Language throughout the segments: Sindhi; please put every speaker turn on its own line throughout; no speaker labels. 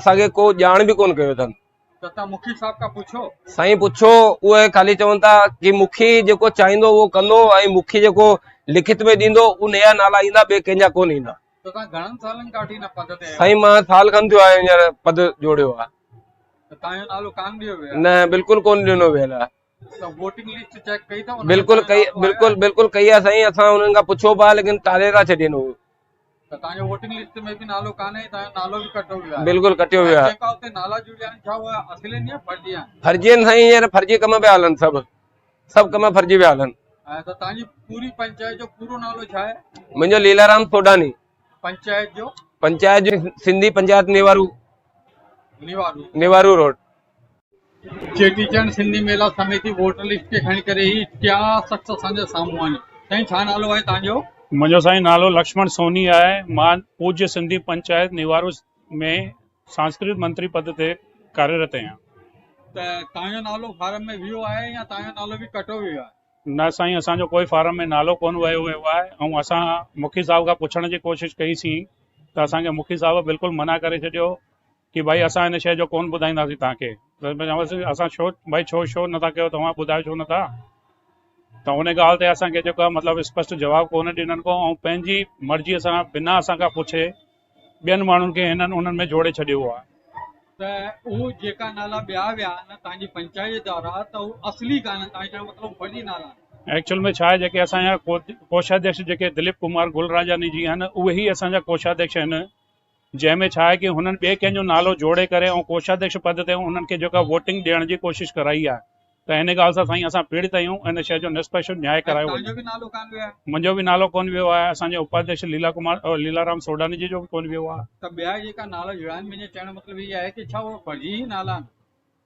اسان کي ڪو ڄاڻ به ڪون ڪيو اٿن ته مکي صاحب
کان پڇو سائين پڇو
اهي خالي چون ٿا ڪي مکي جيڪو چاهيندو اهو ڪندو ۽ مکي جيڪو لکت ۾ ڏيندو ان جا نالا ايندا ٻي ڪنهن جا ڪون ايندا گهڻن سالن
کان وٺي نه پد تي سائين مان سال کن ٿيو آهي
هينئر پد جوڙيو آهي ته تان جو نالو ڪان ڏيو
ويو نه بلڪل ڪون ڏنو
ويل آهي
بلڪل ڪئي بلڪل بلڪل
ڪئي آ سائين اسان انهن کان پڇيو به آ ليڪن ٽاري ٿا ڇڏين هو
بلڪل ڪٽيو ويو آ فرضي آهن سائين هينئر
فرضي ڪم پيا هلن سڀ سڀ ڪم فرضي پيا هلن
منهنجو ليلارام
سوڊاني پنچائت جو
پنچائت جو سنڌي پنچائت
نيوارو نيوارو روڊ
چيٽي چنڊ سنڌي ميلا سميتي ووٽر لسٽ کي کڻي ڪري هي ٽيا شخص اسان جي سامهون آهن سائين ڇا نالو آهي توهان جو؟ منهنجو سائين نالو
لڪشمڻ سوني آهي مان پوجيه سنڌي پنچائت نيوارو ۾ سانسڪرت منتري پد تي ڪاريرت اهيان. ته
توهان جو نالو فارم ۾ ويو آهي يا توهان جو نالو به ڪٽو ويو آهي؟ نه سائين اسان جو
ڪوئي فارم ۾ نالو ڪونه ويو ويو آهي ۽ اسان مکي صاحب کان پڇڻ جي ڪوشش ڪئي سين ته اسان کي مکي صاحب بلڪل منع ڪري ڇڏيو ڪي ڀائي اسان ان شئي جو ڪون ٻڌائينداسين توهان کي ته مون چيو سين اسان ڇو ڀائي ڇو شو نه ٿا ڪيو توهان ٻڌايو ڇو نه ٿا ته ان ڳالهه تي اسان کي جيڪو مطلب اسپشٽ جواب ڪون ڏنن ڪو ۽ پنهنجي مرضي سان بنا اسان کان پڇي ٻين ماڻهن کي هنن انهن ۾ جوڙي ڇڏيو آهي. ته اهو
جيڪا نالا ٻيا ويا آهن توهان جي پنچائت وارا ته اهو اصلي ڪانهن توهان چيو مطلب فرضي نالا آهن. ايڪچوئل ۾ ڇا آهي جيڪي اسان
جا ڪوشاڌيڪش جيڪي دليپ ڪمار گلراجاني جي آهن اهي ئي اسان جا ڪوشاڌيڪش آهن جنهن ۾ ڇا آهي ڪي هنن ٻئي ڪنهن جو نالو جوڙي ڪري ۽ ڪوشاڌيڪش پد تي انهن کي جيڪا ووٽنگ ڏيڻ جي ڪوشش ڪرائي آهي ته هن ڳالهه سان سائين اسان پيڙت آهيون ان شئي جو نسپش نياء ڪرايو وڃي. توهان جو به نالو ڪانه ويو آهي. منهنجو به نالو ڪونه ويو آهي اسان جي اپاڌيڪش ليلا ڪمار ليلا رام سوڍاني جي جو به ڪونه ويو آهي. ته ٻيا جيڪا نالا
جڙاين منهنجي چئڻ جو مطلب هي آهي ڪي ڇا اهي فرضي ئي نالا آهن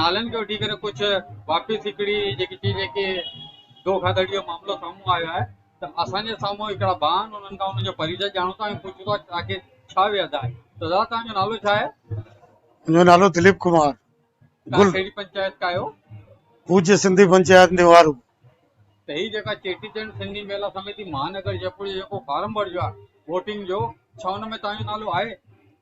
نالن کي وٺي ڪري ڪجھ واپس هڪڙي جيڪي چئجي جيڪي دو کاڌڙي جو معاملو سامهون آيو آهي ته اسان جي سامهون هڪڙا ڀاء آهن انهن کان انهن جو پريچاء ڄاڻو ٿا ۽ پڇون ٿا ته آخر ڇا ويهه آهي ته دادا توهان جو نالو ڇا آهي؟ منهنجو نالو
دليپ ڪمار توهان گل ڪهڙي
پنچائت کان آهيو؟ پوجي سنڌي
پنچائت نوارو. ته هي
جيڪا چيٽي چنڊ سنڌي ميلا سميتي مهانگر جئپور جو جيڪو فارم ڀرجو آهي ووٽنگ جو ڇا ان ۾ توهان جو نالو آهي؟